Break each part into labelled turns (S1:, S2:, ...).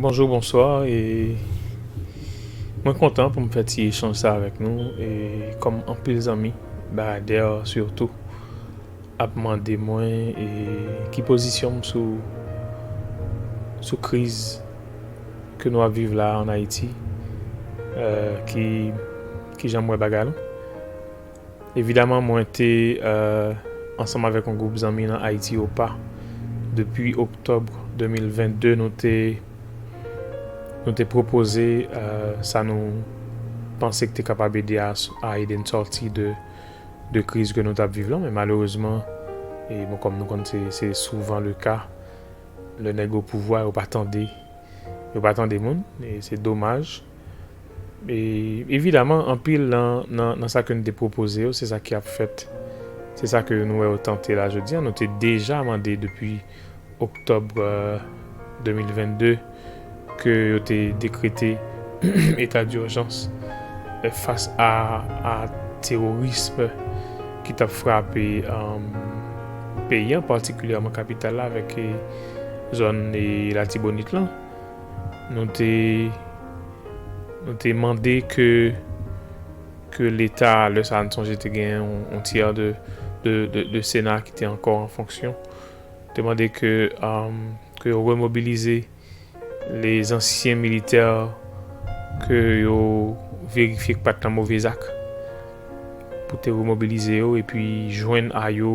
S1: Bonjou bonswa e mwen kontan pou m fè ti echanj sa avèk nou e kòm anpil zanmi baradè sitou ap mande mwen e ki pozisyon m sou sou kriz ke nou ap viv la an Ayiti e ki kijan m wè bagay la. Evidaman mwen te ansanm avèk yon gwoup zanmi nan Ayiti Opa depi oktòb 2022 nou te pwopoze sa nou panse k te kapab ede a ede n sòti de kriz ke nou t ap viv lan men malerezman e bon kòm nou konn se souvan le ka lè nèg opouvwa yo pa tande yo pa tande moun e se domaj. E, evidaman, anpil nan sa ke nou te pwopoze yo, se sa ki ap fèt. Se sa ke nou wè yo tante la jodi a. Nou te deja mande depi oktòb 2022 ke yo te dekrete eta durjans fas a terorism ki t ap frape peyi an, patikilyèman kapital la avèk zòn Latibonit lan. Nou te Nou te mande ke ke leta lè sa a nou sonje te gen yon tyè de sena ki te ankò an fonksyon te mande ke ke yo remobilize lè zansyen militè ke yo verifye ki pat nan move zak pou te remobilize yo epi jwenn a yo.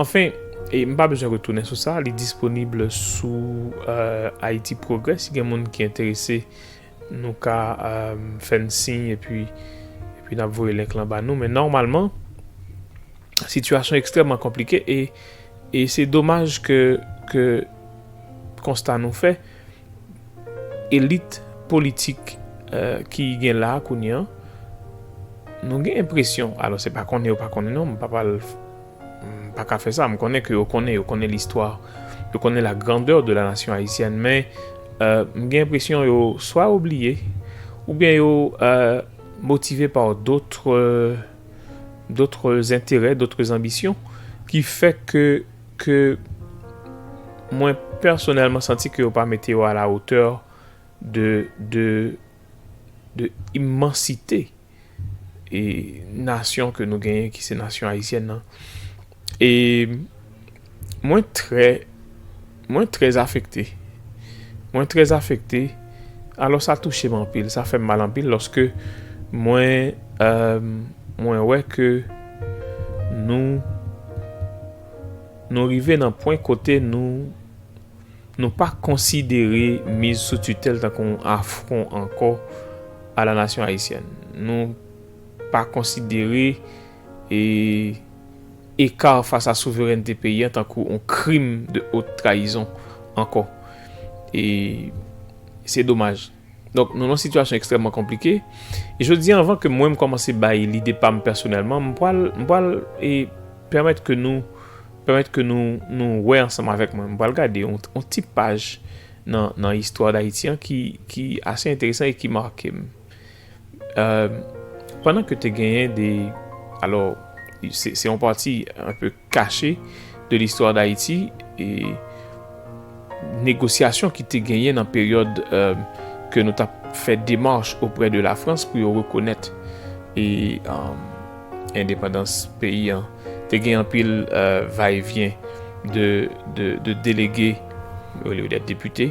S1: Anfen, e m pa bezwen retounen sou sa, li disponib sou Haïti Progrès. Si gen moun ki enterese, nou ka fè n siy epi n ap voye link lan ba nou. Men nòmalman, sitiyasyon ekstrèmman konplike e se domaj ke konsta nou fè, Elit politik ki gen la kounye an, nou gen enpresyon, alò se pa konnen yo pa konnen non, m pa pral, m pa ka fè sa, m konnen ke yo konnen, yo konnen listwa, yo konnen la grandeur de la nation haïtienne men m gen enpresyon yo swa yo bliye oubyen yo motive par d'autres d'autres intérêts, d'autres ambitions ki fè ke ke mwen pèsonèlman santi ke yo pa mete yo a la otè de de imansite e nasyon ke nou genyen ki se nasyon ayisyèn nan e mwen trè mwen trè afekte mwen trè afekte. Alò sa touche m anpil, sa fè m mal anpil lòske mwen mwen wè ke nou nou rive nan pwen kote nou nou pa konsidere miz sou titèl tankou yon afwon ankò a la nasyon ayisyèn. Nou pa konsidere e ekar fas a souverènte peyi an tankou on krim de haute trahison ankò. E se domaj. Donk nou nan on sitiyasyon ekstrèmman konplike. E jodi an anvan ke mwen m kòmanse bay lide pa m pèsonèlman, m pwal, m pwal e pèmèt ke nou, pèmèt ke nou, nou wè ansanm avèk mwen. M pwal gade on, on ti paj nan, nan istwa Dayiti an ki, ki ase enteresan e ki make m. Pandan ke te genyen de, alò, se yon pati an pe kache de listwa d'Ayiti, e negosyasyon ki te genyen nan peryòd ke nou tap fè demarch oprè de la Frans pou yo rekonèt e endepandans peyi an, te gen anpil va e vyen de delege, olye dèt depite.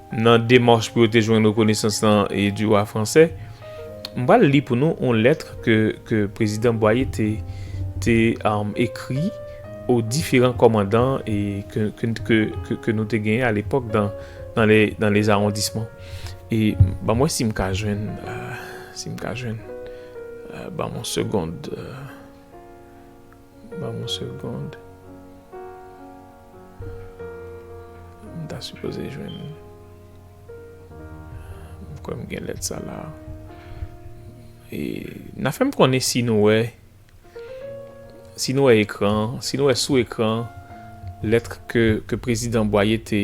S1: Nan demach pou yo te jwenn rekonesans lan du roi français, m pral li pou nou yon lettre ke ke Prezidan Bwaye te te ekri aux differents commandants e ke ke ke ke ke nou te genyen a lepòk dan dan le dan les arrondissements e ban m wè si m ka jwenn si m ka jwenn ban m yon segond. Ban m yon segond. M ta sipoze jwenn. M kwè m gen lèt sa la. E nan fè m konnen si nou wè. Si nou wè ekran an. Si nou wè sou ekran an. Lèt ke prezidan Bwaye te.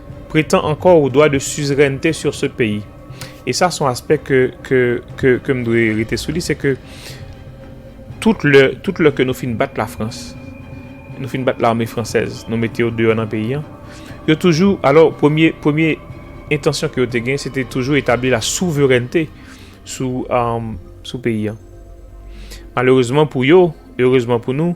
S1: Pretan ankò ou dwa de suzerènte sur se peyi. E sa son aspè ke, ke, ke, ke m dwe rete sou li, se ke tout lè, tout lè ke nou fin bat Lafrans, nou fin bat lame fransèz, nou mete yo deyò nan peyi an, yo toujou, alò, premye, premye entansyon ke yo te gen, se te toujou etabli la souverènte sou, sou peyi an. Malerezman pou yo, erezman pou nou,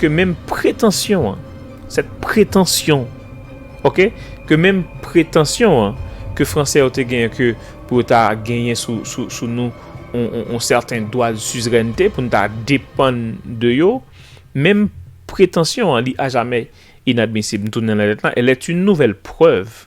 S1: Ke menm pretansyon an, cette prétention, ok, ke menm pretansyon an ke Fransè yo te genyen ke pou yo ta genyen sou nou yon sèten dwa de suzerènte, pou nou ta depann de yo, menm pretansyon an li ajamè inadmisib. M tounen nan lèt lan, elle est une nouvelle preuve.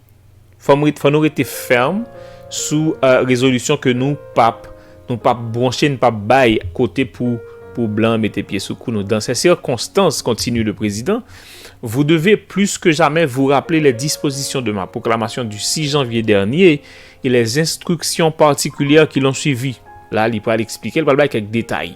S1: Fò nou rete fèm sou rezolisyon ke nou pap bronche, nou pap bay kote pou blan an mete pye sou kou nou. Dans sè sikonstans, kontinye le prezidan, vou deve plis ke jamè vou raple lè dispozisyon de ma pwoklamasyon di 6 janvye dènye e lè enstriksyon patikilyè ki lon swivi. La li pral eksplike, li pral bay kèk detay.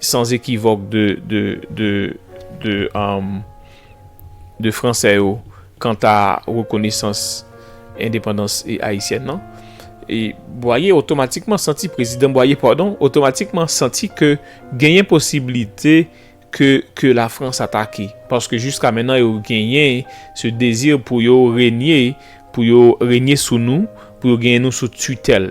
S1: Sans ekivòk de Fransè yo kanta rekonesans endepandans ayisyèn nan. E Bwaye otomatikman santi, Prezidan Bwaye padon, otomatikman santi ke genyen posiblite ke la Frans atake. Paske jiska mennan yo genyen se dezi pou yo renye, pou yo renye sou nou, pou yo genyen nou sou titèl.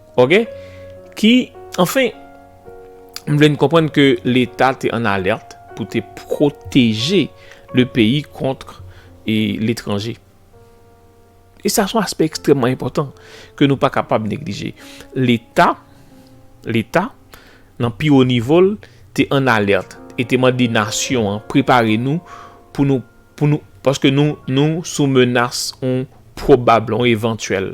S1: Ok, ki, anfen, m vle n konprann ke leta te an alert pou te pwoteje le peyi kontr e letranje. E sa son aspè ekstrèmman enpòtan ke nou pa kapab neglije. Leta, leta, nan pi wo nivo l, te an alert e te mande nasyon an prepare nou pou nou, pou nou, paske nou, nou sou menas on pwobabl, on evantyèl.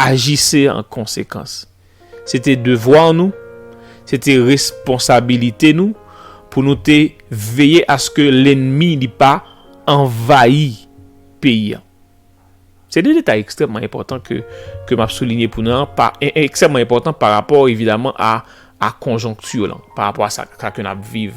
S1: Ajise an konsekans. Se te devwa nou, se te responsabilite nou pou nou te veye aske lennmi li pa anvayi peyi an. Se de detay ekstrèmman enpòtan ke m ap soulinye pou nou an, ekstrèmman enpòtan pa rapò evidaman a konjonkti lan, pa rapò a sa ke n ap viv.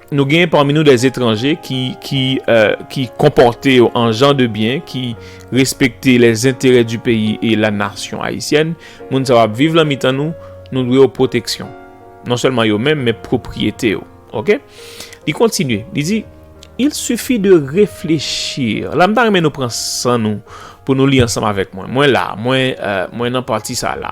S1: Nou genyen pami nou des etranje ki konpòte yo an jan de byen, ki respekte les enterè du peyi e la nasyon ayisyèn. Moun sa yo ap viv lan mitan nou, nou dwe yo pwoteksyon. Non sèlman yo menm, men pwopriyete yo. Ok? Li kontinye, li di, Il suffit de réfléchir. La m ta renmen nou pran san nou pou nou li ansanm avèk mwen. Mwen la, mwen nan pati sa la.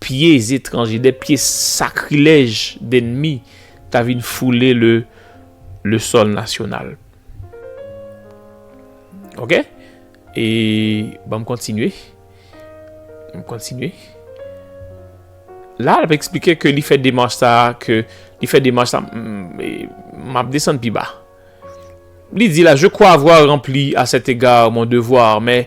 S1: Pye zetranje, de pye sakrilèj dennmi ta vin foule le le sòl nasyonal. Ok? E ban m kontinye. M kontinye. La l ap eksplike ke li fè demach sa a, ke li fè demach sa a. M ap desann pi ba. Li di la, je kwa avwa ranpli a sèt ega mon devwa, men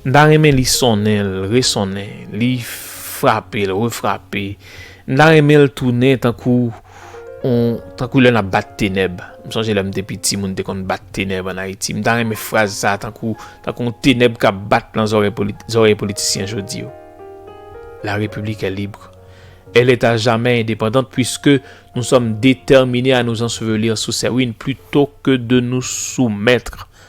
S1: M ta renmen li sonnen l, resonnen, li frape l, refrape. M ta renmen l tounen tankou on, tankou lè n ap bat tenèb. M sonje lè m te piti moun te konn bat tenèb an Ayiti. M ta renmen fraz sa tankou, tankou on tenèb k ap bat lan zorèy poli, zorèy politisyen jodi yo. La République est libre. Elle est à jamais indépendante puisque nous sommes déterminés à nous ensevelir sous ses ruines plutôt que de nous soumettre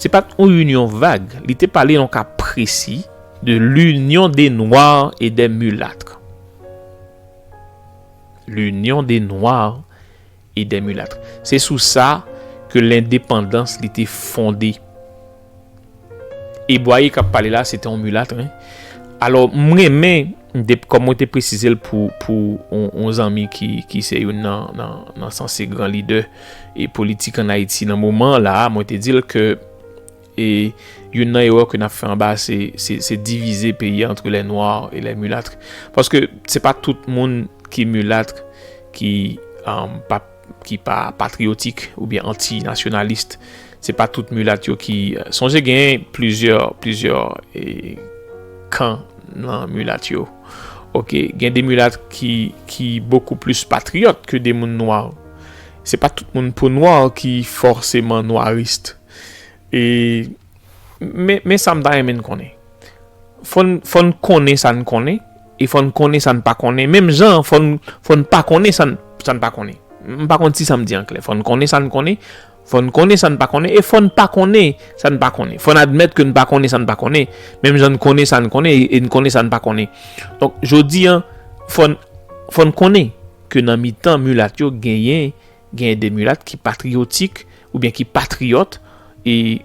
S1: Se pat yon union vag, li te pale yon ka presi de l'union des noirs et des mulâtres. L'union des noirs et des mulâtres. Se sou sa ke lendepandans li te fonde. E Boyer kap pale la se te yon mulâtre wi. Alò m renmen kòm mwen te presize l pou yon zanmi ki se youn nan sanse gran lidè. e politik an Ayiti nan moman an la a, mwen te di l ke e youn nan erè ke n ap fè anba a se se divize peyi a antre lè nwa e lè mulatre paske se pa tout moun ki mulatre ki pa ki pa patriyotik oubyen anti nasyonalist se pa tout mulatre yo ki sonje gen plizyè plizyè e kan nan mulatre yo ok gen de mulatre ki ki bokou plis patriyòt ke de moun nwa. Se pa tout moun po nwa ki fòseman nwarist. E men sa m ta renmen n konnen. Fò n konnen sa n konnen e fò n konnen sa n pa konnen. Menm jan fò n pa konnen sa n pa konnen. M pa konn si sa m di an klè. Fò n konnen sa n konnen. Fò n konnen sa n pa konnen e fò n pa konnen sa n pa konnen. Fò n admèt ke n pa konnen sa n pa konnen, menm jan n konnen sa n konnen e n konnen sa n pa konnen. Donk, jodi an, fò n, fò n konnen ke nan mitan milat yo genyen, genyen de milat ki patriyotik oubyen ki patriyòt e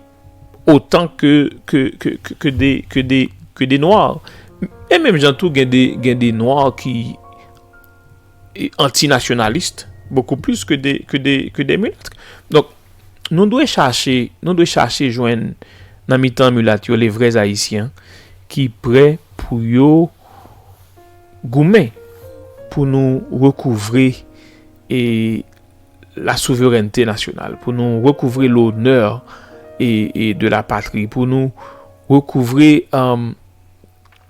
S1: otan ke, ke, ke, ke, ke de, ke de, ke de nwa. E menm jan tou gen de, gen de nwa ki. antinasyonalist bokou plis ke de milat. Donk, nou dwe chache, nou dwe chache jwenn nan mitan milat yo le vrè zayisyen ki pre pou yo goumen pou nou rekouvre e la souverènte nasyonal, pou nou rekouvre lonè e de la patri, pou nou rekouvre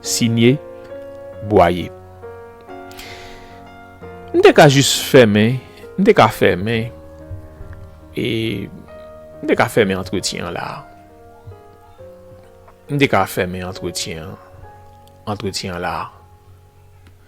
S1: Signe Boyer M te ka jis fèmen M te ka fèmen e M te ka fèmen antretyen an la a M te ka fèmen antretyen an antretyen an la a.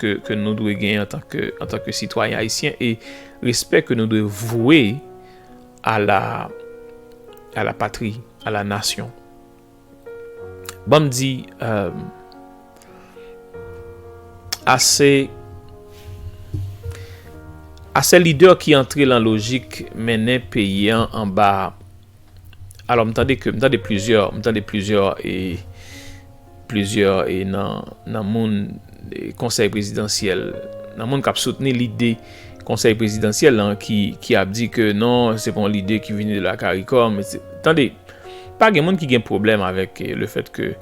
S1: ke nou dwe gen antan ke sitwayen ayisyen e respè ke nou dwe vwe a la patri, a la nasyon. Ban m di euh, ase ase lidè ki antre lan lojik mennen peyi an anba, alò m tande ke, m tande plizyè, m tande plizyè e. Plizyè nan moun konsèy prezidansyèl, nan moun kap soutni lide konsèy prezidansyèl lan ki ap di ke non se pa yon lide ki vini de la karikom. Tande, pa gen moun ki gen pwoblèm avèk le fèt ke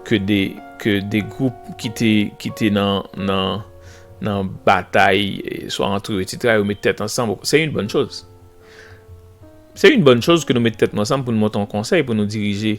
S1: ke de gwoup ki te nan batay swa antre yo etsetera yo met tèt ansanm. Se yon bòn choz. Se yon bòn choz ke nou met tèt nou ansanm pou nou monte yon konsèy pou nou dirije.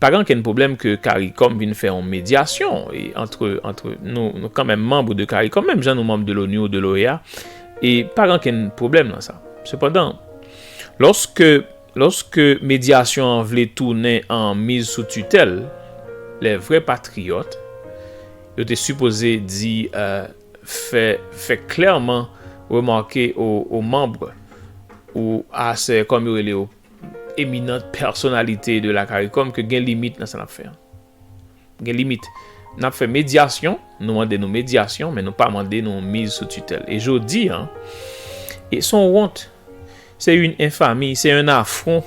S1: Pa gen ankenn pwoblèm ke caricom vin fè yon medyasyon antre antre nou, nou kanmenm manb de caricom menm jan nou manb de l'ONU ou de l'OEA e pa gen ankenn pwoblèm nan sa. Sepandan, lòske lòske medyasyon an vle tounen an miz sou titèl, lè vrè patriyòt yo te sipoze di fè fè klèman remake o o manb ou a sè kòm yo rele yo, Eminant pèsonalite de la caricom ke gen limit nan sa nap fè an. Gen limit. Nap fè medyasyon, nou mande nou medyasyon men nou pa mande nou miz sou titèl. E jodi an, e son wont, se yn enfami, se yn afron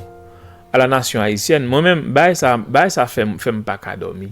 S1: a la nasyon ayisyèn. Mwen menm, bagay sa, bagay sa fèm, fèm paka dòmi.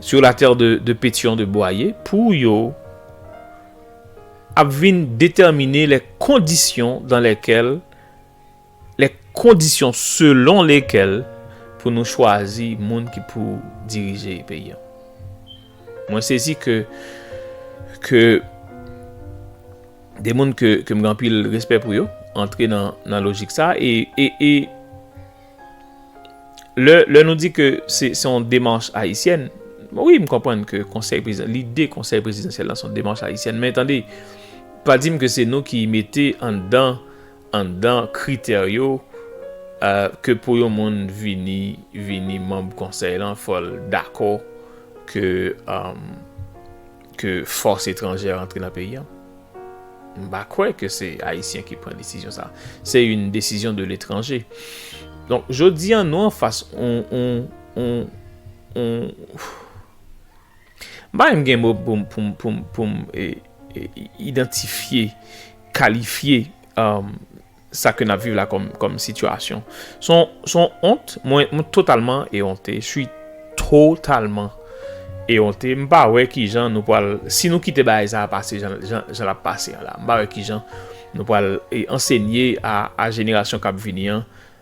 S1: Sur la terre de de Pétion de Boyer pour yo ap vin determine les conditions dans lesquelles les conditions selon lesquelles pou nou chwazi moun ki pou dirije peyi an. Mwen sezi ke ke de moun ke ke m gen anpil respè pou yo antre nan nan lojik sa e e e Lè nou di ke se yon demanch ayisyèn, wi m konprann ke konsèy prezidansyèl, lide konsèy prezidansyèl la se yon demanch ayisyèn men tande, pa di m ke se nou ki mete anndan anndan kritè yo ke pou yon moun vini vini manb konsèy lan fò l dakò ke ke fòs etranjè rantre nan peyi an. M pa kwè ke se Ayisyen ki pran desizyon sa. Se yon desizyon de letranje. Donk, jodi an nou an fas yon, yon, yon, yon, m pa menm gen mo pou m, pou m, pou m, pou m idantifye, kalifye, emm. Sa ke nap viv la kom sitiyasyon son ont mwen totalman eonte sui totalman eonte m pa wè kijan nou pwal si nou kite bagay sa pase jan lap pase an la m pa wè kijan nou pwal ansenye a jenerasyon kap vini an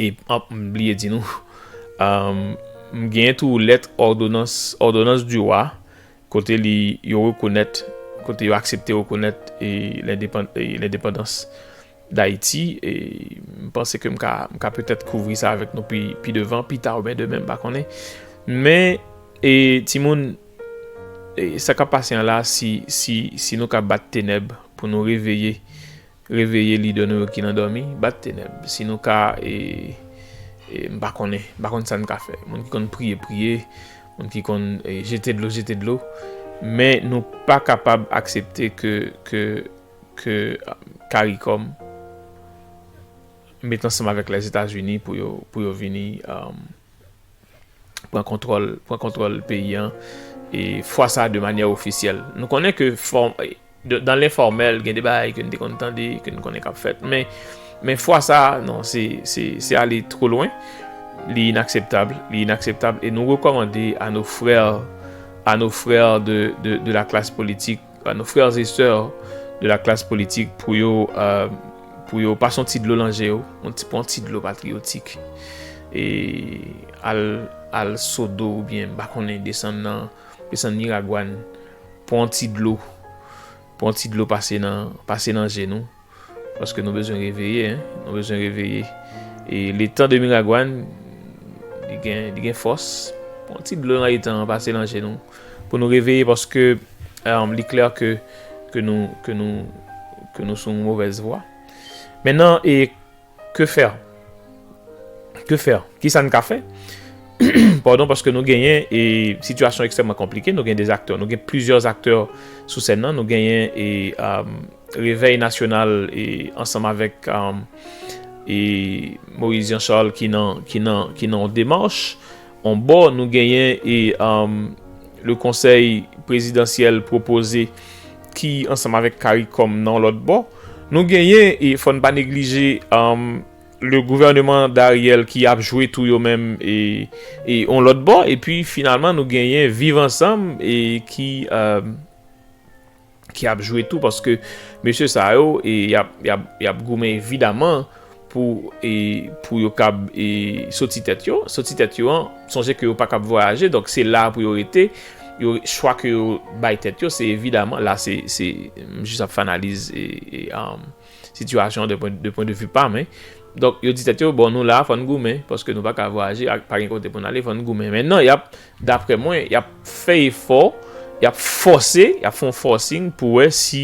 S1: E m bliye di nou, m genyen tou lèt òdonans, òdonans di wa, kote li yo rekonèt, kote yo aksepte rekonèt e lendepandans Dayiti. E m panse ke m ka, m ka petèt kouvri sa avèk nou pi, pi devan, pi ta ou byen demen m pa konnen. Men, e timoun, e sa k ap pase an la, si, si, si nou ka bat tenèb pou nou reveye. Reveye lidè nou yo ki nan dòmi, bat tenèb. Si nou ka e m pa konnen, m pa konn sa n ka fè. Moun ki konn priye priye, moun ki konn jete dlo jete dlo. Men nou pa kapab aksepte ke caricom met ansanm avèk Lèzetazini pou yo vini pran kontwòl peyi an e fwa sa de manyè ofisyèl. Nou konnen ke fòm. Dan lenfòmèl gen de bagay ke n te konn tande, ke n konnen k ap fèt. Men, men fwa sa a, non, se, se, se ale two lwen. Li inakseptab, li inakseptab. E nou rekòmande a nos frères, a nos frères de, de, de la classe politique, a nos frères et sœurs de la classe politique pou yo, pou yo pase yon ti dlo lan je yo, yon ti, pran yon ti dlo patriyotik. E al, al Sodo oubyen m pa konnen desann nan, desann Miragwàn. Pwan ti dlo pwan ti dlo pase nan pase nan je nou paske nou bezwen reveye hein nou bezwen reveye e le tan de miragwan li gen li gen fòs pwan ti dlo nan etan pase nan je nou pou nou reveye paske um, li klè ke ke nou ke nou ke nou sou yon movèz vwa men nan e Que faire? Que faire? Kisa n ka fè? Pardon paske nou genyen e sitiyasyon ekstrèman konplike, nou gen de aktè, nou gen plizyè aktè sou sèn nan, nou genyen e Revèy Nasyonal e ansanm avèk e Moise Jean Charles ki nan ki nan ki nan yon demach. On bò, nou genyen e le konsèy prezidansyèl pwopoze ki ansanm avèk caricom nan on lòt bò. Nou genyen e fò n pa neglije le gouvèneman d'Ariel ki ap jwe tou yo menm e on lòt bò epi finalman nou genyen viv ansanm e ki. ki ap jwe tou paske mesye sa yo e yap goumen evidaman pou e pou yo kab e soti tèt yo, soti tèt yo an sonje ke yo pa kab vwayaje donk se la pou yo rete yo chwa ke yo bay tèt yo se evidaman la se se jis ap fè analiz e e Sitiyasyon de pwen de pwen de vi pam hein. Donk yo di tèt yo bon nou la fòn goumen paske nou paka vwayaje ak pa gen kote pou n ale fòn goumen men nan yap daprè mwen yap fè efò yap fòse yap fon fòsing pou wè si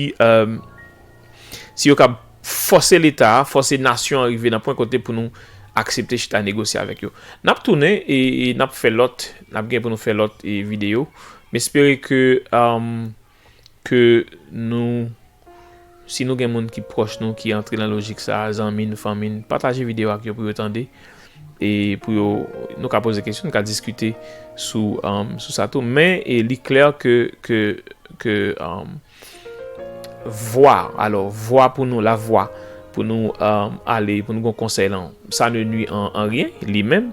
S1: si yo kab fòse leta a fòse nasyon an rive nan pwen kote pou nou aksepte chita negosye avèk yo nap tounen e nap fè lòt nap gen pou nou fè lòt videyo m espere ke. ke nou si nou gen moun ki pwòch nou ki antre nan lojik sa zanmi n fanmi n pataje videyo ak yo pou yo tande e pou yo nou ka poze kesyon nou ka diskite sou sou sa tou men e li klè ke ke ke vwa alò vwa pou nou la vwa pou nou ale pou nou gon konsèy lan sa ne nwi an anryen li menm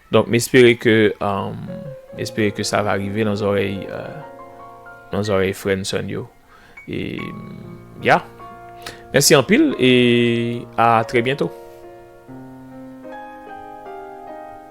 S1: Donk m espere ke m espere ke sa va rive nan zòrèy nan zòrèy frè n sè n yo e ya mèsi anpil e a trè byento.